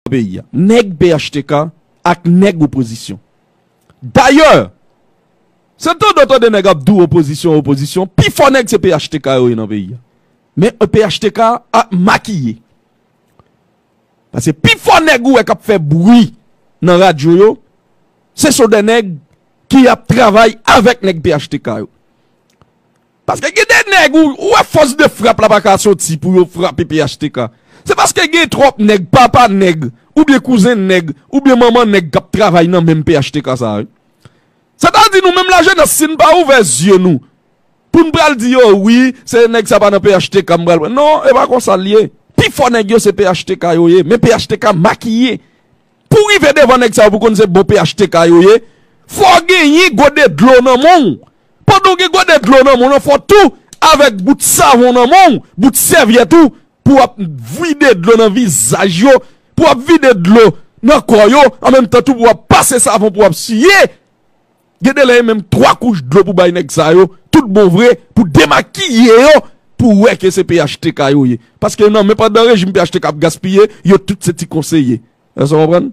peyi a. Nèg phtk ak nèg opozisyon. Dayè, se tande w tande nèg ap di w opozisyon, opozisyon, pi fò nèg se phtk yo ye nan peyi a. Men phtk a makiye. Pase pi fò nèg ou wè k ap fè bri nan radyo yo, se sou de nèg ki ap travay avèk nèg phtk yo. Paske gen de nèg ou wè fòs de frap la paka soti pou yo frape phtk. Se paske gen twòp nèg, papa nèg, oubyen kouzen nèg, oubyen manman nèg kap travay nan menm phtk sa wi. Sètadi nou menm lajenès si n pa ouvè zye nou pou n pral di yo wi se nèg sa pa nan phtk m pral pran. Non e pa konsa l ye. Pifò nèg yo se phtk yo ye men phtk makiye. Pouw rive devan nèg sa yo pou konn se bon phtk yo ye fòw genyen gode dlo nan menw pandan ou gen gode dlo nan menw lan fòw tou avèk bout savon nan menw bout sèvyèt ou pouw ap vide dlo nan vizaj yo pouw ap vide dlo nan kò yo an menm tan tou pouw ap pase savon pouw ap siye Gen de lè e menm 3 kouch dlo pou bay nèg sa yo tout bon vre pou demakiye yo pou wè ke se phtk yo ye. Paske nan men pandan rejim phtk ap gaspiye, yo tout se ti konseye. Èske w konprann?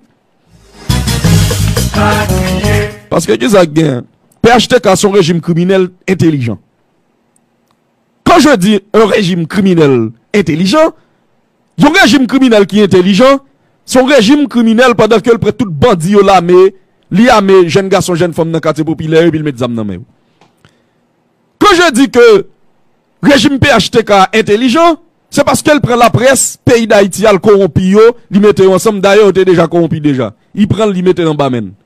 Paske kisa k gen? Phtk se yon rejim kriminèl entelijan. Quand je dis un régime criminel intelligent, yon rejim kriminèl ki entelijan, se yon rejim kriminèl pandan ke l pran tout bandi yo lame, li ame jèn gason jèn fanm nan katye popilè yo epi l met zam nan men yo. Quand je dis que rejim phtk a entelijan, se paske l pran laprès peyi Dayiti a l kowonpi yo, li mete yo ansanm, dayè yo te deja kowonpi deja, li pran l li mete l anba men l.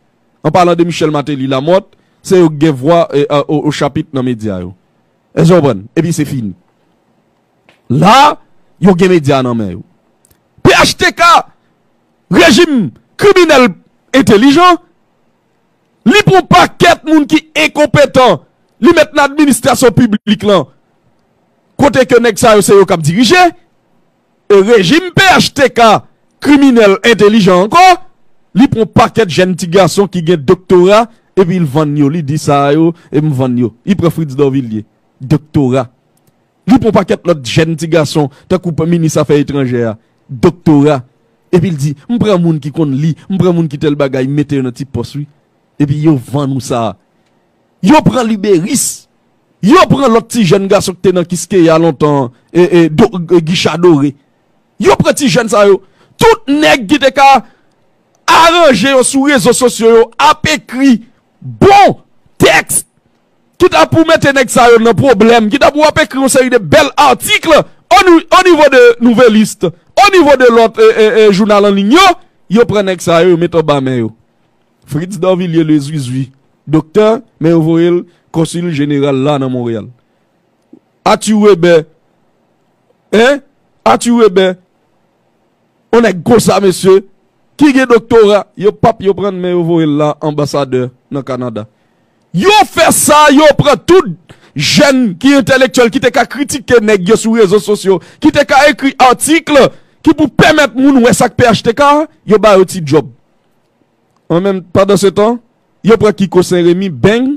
An palan de Michel Martelly, Lamothe, se yo k gen vwa o chapit nan medya yo. Èske w konprann? Epi se fini. La, yo gen medya nan men yo. Phtk, rejim kriminèl entelijan, li pran pakèt moun ki enkonpetan, li met nan administrasyon piblik lan, kote ke nèg sa yo se yo k ap dirije. E rejim phtk kriminèl entelijan ankò, li pran pakèt jèn ti gason ki gen doktora epi l vann yo, li di sa a yo e m vann yo. Li pran Fritz Dorvillier, doktora. Li pran pakèt lòt jèn ti gason tankou minis afè etranjè a, doktora, epi l di m pran moun ki konn li, m pran moun ki tèl bagay, m mete yo nan ti pòs wi. Epi yo vann ou sa a. Yo pran liberis. Yo pran lòt ti jèn gason ki te nan Kiskeya lontan an, Gicha Dore. Yo pran ti jèn sa yo. Tout nèg ki te ka aranje yo sou rezo sosyo yo ap ekri bon tèks ki ta pou mete nèg sa yo nan pwoblèm, ki ta pou ap ekri yon seri de bèl atikl o nivo de Nouvelliste, o nivo de lòt jounal anliy yo. Yo pran nèg sa yo, yo met anba men yo. Fritz Dorvilliers Le Zuizui, doktè, men yo voye l Konsil Jeneral la nan Monreyal. Athur Weber, Hein? Athur Weber, On nèg konsa, mesye, ki gen doktora, yo pa p yo pran l men yo voye l la Anbasadè nan Kanada. Yo fè sa, yo pran tout jèn ki entèlektyèl ki te ka kritike nèg yo sou rezo sosyo, ki te ka ekri atikl ki pou pèmèt moun wè sa k phtk a, yo ba yo ti djòb. An menm pandan se tan yo pran kiko senremi beng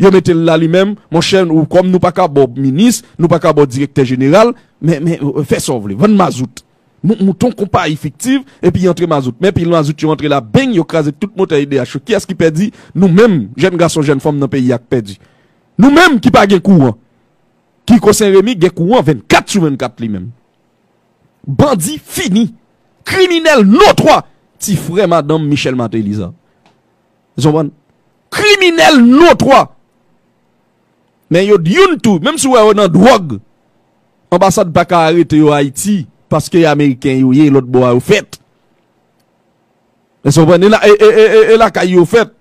yo metel la li menm monchè ou kòm nou paka baw minis nou paka baw direktè jeneral men men fè sa w vle vann mazout nou monte yon konpayi fiktiv epi antre mazout men pil mazout yo antre la beng yo kraze tout motè edh yo kiyès ki pèdi nou menm jèn gason jèn fanm nan peyi a k pèdi nou menm ki pa gen kouran kiko senremi gen kouran 24 sou 24 li menm. Bandi fini. Kriminel notwa. Ti fre madanm Michel Martelly sa. Zonbran. Kriminel notwa. Men yo di youn tou. Menm si wè yo nan drog. Anbasad pa ka arete yo Haiti. Paske y Ameriken yo ye. Lot bo a yo fet. Zonbran. E la kay yo fet.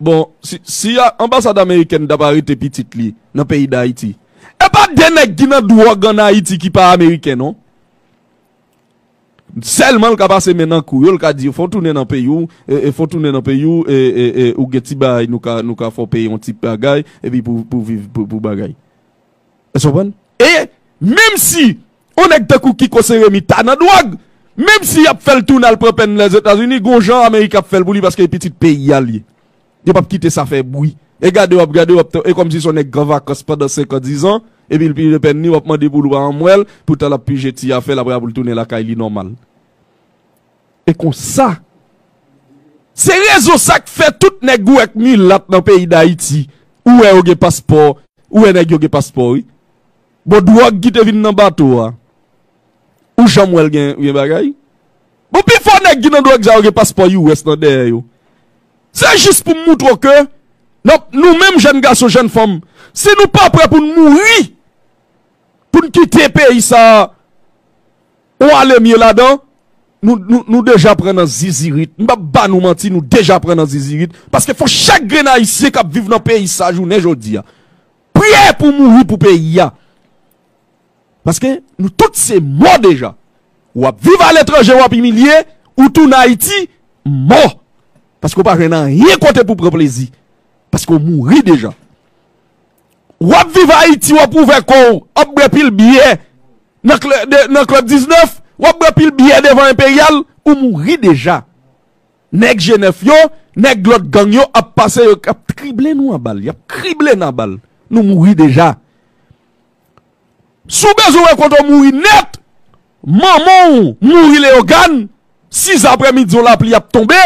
Bon si anbasad amerikèn tap arete pitit li nan peyi dayiti epa de nèg ki nan dwòg an ayiti ki pa ameriken non sèlman l ka pase men nan kou yo l ka di yo fon tounen nan peyi w fon tounen nan peyi w ou gen ti bagay nou ka fè w peye yon ti bagay epi pou viv pou bagay. Èske w konprann? E, menm si, yon nèg tankou Kiko Seremi ta nan dwòg, menm si y ap fè l tounen al pran pèn li Lèzetazini, gon jan Amerik ap fè l pou li paske e pitit peyi a l ye. Yo p ap kite sa fè bri. E gade w ap gade, w ap tan, e kòmsi s on nèg k an vakans pandan senkan dizan, epi l pije pèn li, w ap mande pou l ou pa anmwèl, poutan l ap pije ti afè l apre a pou l tounen lakay li nòmal. E konsa, se rezon sa k fè tout nèg ou wè k milat nan peyi Dayiti, ou wè yo gen paspò, ou wè nèg yo gen paspò wi. Bon dwòg ki te vin nan bato a, ou janm wè l gen bagay? Bon pi fò nèg ki nan dwòg sa yo gen paspò US nan dèyè yo. Se jis pou m moutre w ke nou menm jèn gason, jèn fanm, si nou pa prè pou n mouri, pou n kite peyi sa a, Ou ale mye ladan Nou deja pran nan zizirit M pap ba nou manti nou deja pran nan zizirit Paske fò chak grenn ayisyen kap viv nan peyi sa jounen jodi a Priye pou mouri pou peyi a Paske nou tout se mò deja Wap viv aletranje wap imilye Ou tounen ayiti mò Paske ou pa jwenn anyen kote pou pran plezi Paske ou mouri deja. Wap viv Haiti wap ouvè kow ap bwè pil byè nan club 19 wap bwè pil byè devan imperial ou mouri deja nèg je nèf yo nèg lot gang yo ap pase yo ap trible nou a bal yap krible nou a bal nou mouri deja si w bezwen wè kote w mouri nèt manman w mouri leogane 6 aprè midi yon lapli ap tonbe.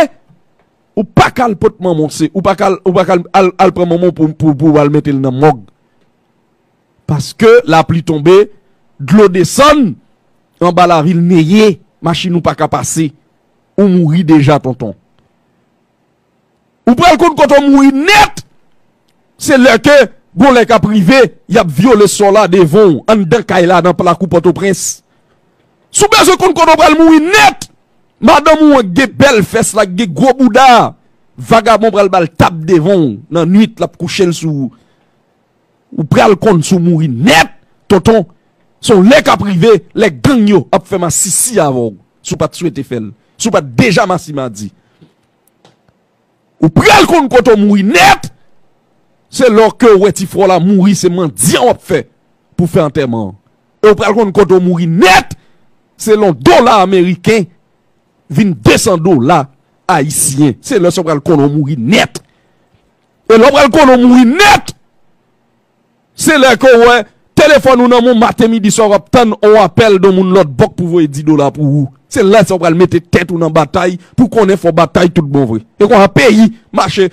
Ou paka al pot manman w se ou paka al ou paka al pran manman w pou pou al mete l nan mòg paske lapli tonbe dlo desann anba lavil neye machin ou paka pase ou mouri deja tonton ou pral konn kote w mouri nèt se lè ke gon lè kap rive yap vyole sò la devan w anndan kay la nan plakou pòtoprens. Si w bezwen konn kote w pral mouri nèt, madanm ou an k gen bèl fès la, k gen gwo bouda a, vagabon pral ba l tap devan w nan nuit l ap kouche l sou ou. Ou pral konn si w mouri nèt tonton, se yon lè k ap rive lè gang yo ap fè masisi avè w si w pa t swete fè l, si w pa t deja masimadi. Ou pral konn kote w mouri nèt, se lè w ke w wè ti frè w la mouri se mandyan w ap fè pou w fè antèman an. E w pral konn kote w mouri nèt, se lè yon dola ameriken vin 200 dola ayisyen. Se lè sa w pral konnen w mouri nèt. E lè w pral konnen w mouri nèt! Se lè ke w wè telefòn ou nan men w maten, midi, swa w ap tann on apèl don moun lòt bò k pou voye 10 dola pou ou. Se lè sa w pral mete tèt ou nan batay pou konnen fò w batay tout bon vre. E konsa peyi mache.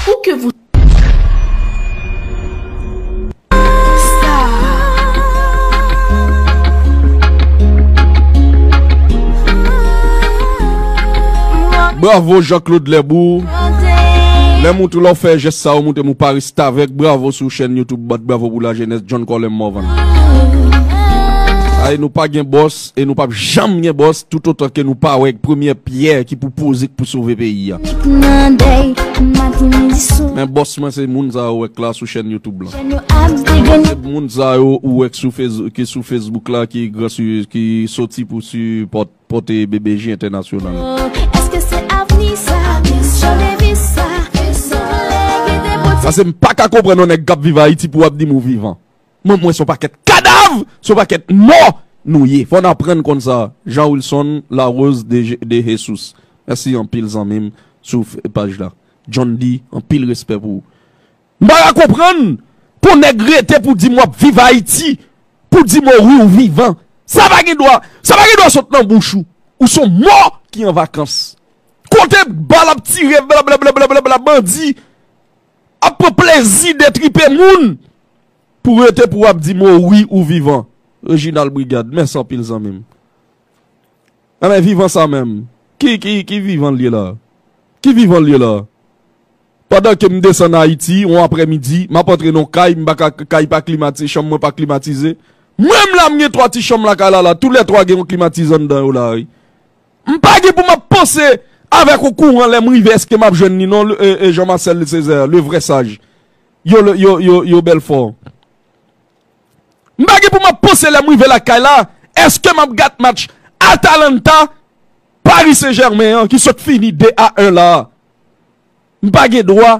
Pou ke vous. Bravo Jean Claude Lèbou Lèm ou tou lò fè jès sa ou moutè mou pa restavèk Bravo sou chèn youtube bat Bravo pou la jènès John Colem Morvan Aè nou pa gen bòs e nou pap janm gen bòs tout otan ke nou pa wè premyè pyè ki pou poze k pou sove peyi a. Men bòs mwen se moun sa yo wè k la sou chèn YouTube la. Se moun sa yo ou wè k sou Facebook ki sou Facebook la ki gran su ki soti pou su pòt pote BBJ entènasyonal la. Pase m paka konprann yon nèg kap viv Ayiti pou wap dim ou vivan. M'en mwen son pakèt kadav, son pakèt mò nou ye. Fò n aprann konn sa. Jean Wilson Larose de Jesus. Mèsi anpil zanmi m sou paj la. John D. anpil respè pou ou. M pa ka konprann pou nèg rete pou di m wap viv Ayiti, pou di mori ou vivan. Sa pa gen dwa, sa pa gen dwa sot nan bouch ou. Ou son mò ki an vakans. Kote bal ap tire blablabla bandi. Ap pran plezi detripe moun pou rete pou ap di mo wi ou vivan Reginald Brigade mèsi anpil zanmim a men vivan sa menm ki ki ki vivan liye la ki vivan liye la pandan ke m desann ayiti yon aprè midi map antre nan kay m paka kay pa klimatize chanm mwen pa klimatize menm la m gen 3 ti chanm lakay la la tou lè 3 gen yon klimatizan nan dan yo la wi. M pa gen pou m ap panse avèk ou kouran lè m rive èske m ap jwenn li non Jean Marcel Césaire le vrai sage Yo Belfort M pa gen pou m ap panse lè m rive lakay la èske m ap gad match Atalanta Paris Saint Germain an ki sot fini 2 a 1 la a M pa gen dwa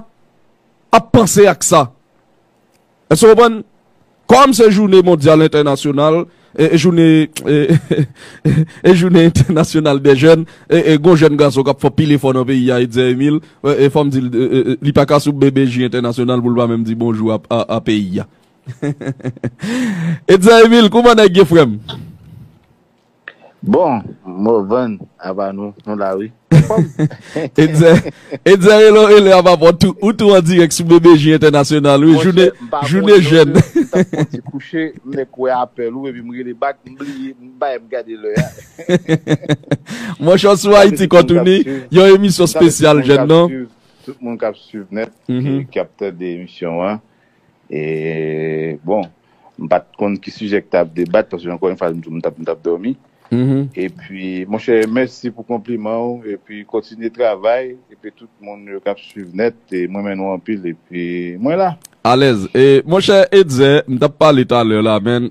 ap panse ak sa. Èske w konprann? Kòm se jounen mondyal entènasyonal, e jounen, e jounen entènasyonal dè jèn, e gon jèn gason k ap fè pil efò nan peyi a, Etzer Emile, e fò m di l, li pa ka sou BBJ entènasyonal pou l pa menm di bonjou a peyi a. Etzer Emile, kouman nèg ye frè m? Bon Morvan apa nou nou la wi. Etzer Etzer Elo Ele apa pò tou ou tou an dirèk sou BBJ entènasyonal wi joune joune jèn. Monchè m pa konnen non de m tap fon ti kouche m nèk wè apèl ou epi m rele bak m bliye m pa em gade lè a. Monchè w sou Ayiti Kòtouni yon emisyon spesyal jèn non. Tout moun kap swiv nèt ki ap tande emisyon an. E bon, m pa t konn ki sijè ki t ap debat paske ankò yon fwa m di w m t ap dòmi. Epi monchè mèsi pou konpliman ou epi kontinye travay epi tout moun yo k ap swiv nèt m renmen nou anpil epi mwen la. Alèz. E monchè Etzer, m t ap pale talè la men